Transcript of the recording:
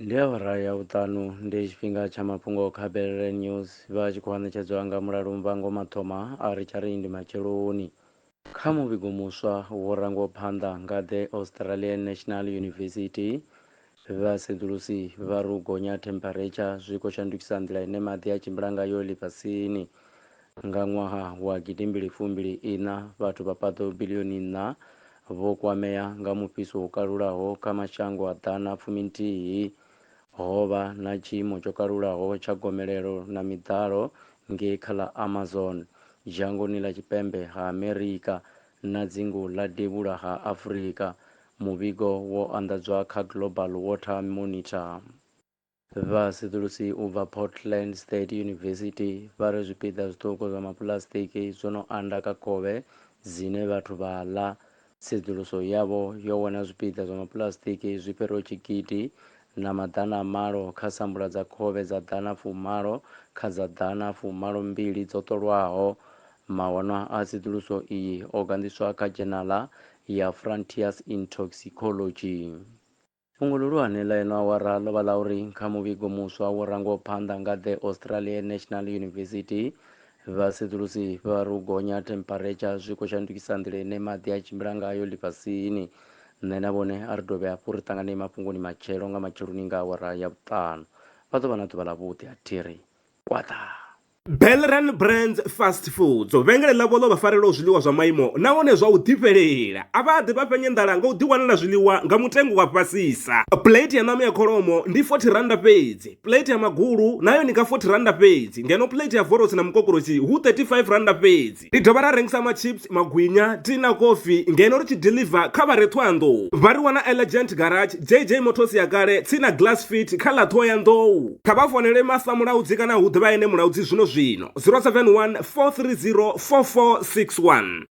ndi awara ya vhuṱanu ndi tshifhinga tsha mafhungo kha belele news vha tshi khou ṋetshedzwa nga mulalo mvango mathoma a ri tsha ri ndi matsheloni kha muvhigo muswa wo rangwaho phanḓa nga the australian national university Vhasedzulusi vha ri u gonya themparetsha zwi khou shandukisa nḓila ine maḓi a tshimbila ngayo ḽifhasini. Nga ṅwaha wa gidimbili fumbili iṋa, vhathu vha paḓo biḽioni nṋa vho kwamea nga mufhiso wo kalulaho kha mashango a ḓana fumi nthihi. Ho vha na tshiimo tsho kalulaho tsha gomelelo na miḓalo ngei kha ḽa Amazon, dzhangoni ḽa tshipembe ha Amerika na dzingu ḽa devhula ha Afrika, Muvhigo wo anḓadzwa kha Global Water Monitor. Vhasedzulusi u bva Portland State University vha ri zwipiḓa zwiṱuku zwa mapuḽasitiki zwo no anda kha khovhe dzine vhathu vha ḽa. Tsedzuluso yavho yo wana zwipiḓa zwa mapuḽasitiki zwi fhiraho tshigidi na maḓana a malo kha sambula dza khovhe dza ḓana fumalo kha dza ḓana fumalo mbili dzo ṱolwaho Mawanwa a tsedzuluso iyi o ganḓiswa kha dzhenala ya Frontiers in Toxicology. Fhungo ḽihulwane ḽa ino awara ḽo vha ḽa uri kha muvhigo muswa wo rangwaho phanḓa nga The Australian National University, vhasedzulusi vha ri u gonya ha thempharetsha zwi khou shandukisa nḓila ine maḓi a tshimbila ngayo ḽifhasini. Nṋe na vhone a ri dovhe hafhu ri ṱanganee mafhungoni matshelo nga matsheloni nga awara ya vhuṱanu. Vha ḓo vha na ḓuvha ḽavhuḓi. A thi ri kwaḓaa. Belran Brands Fast Foods vhengele ḽavho ḽo vha farelaho zwiḽiwa zwa maimo nahone zwa u ḓifhelela a vha ḓi vha fhenye nḓala nga u ḓiwanela zwiḽiwa nga mutengo wa fhasisa plate ya ṋama ya kholomo ndi 40 randa fhedzi plate ya magulu nayo ni nga 40 randa fhedzi ngeno plate ya vorosi na mukokorosi hu 35 randa fhedzi Ri dovha ra rengisa machips, magwinya, tea na kofi ngeno ri tshi deliver kha vha re Thohoyandou. Vha ri wana Elegant Garage, JJ Motors ya kale, tsini na Glass Fit kha ḽa Thohoyandou. Kha vha founele Master Mulaudzi kana hu ḓe vha ene Mulaudzi zwino zwino, 071 430 4461.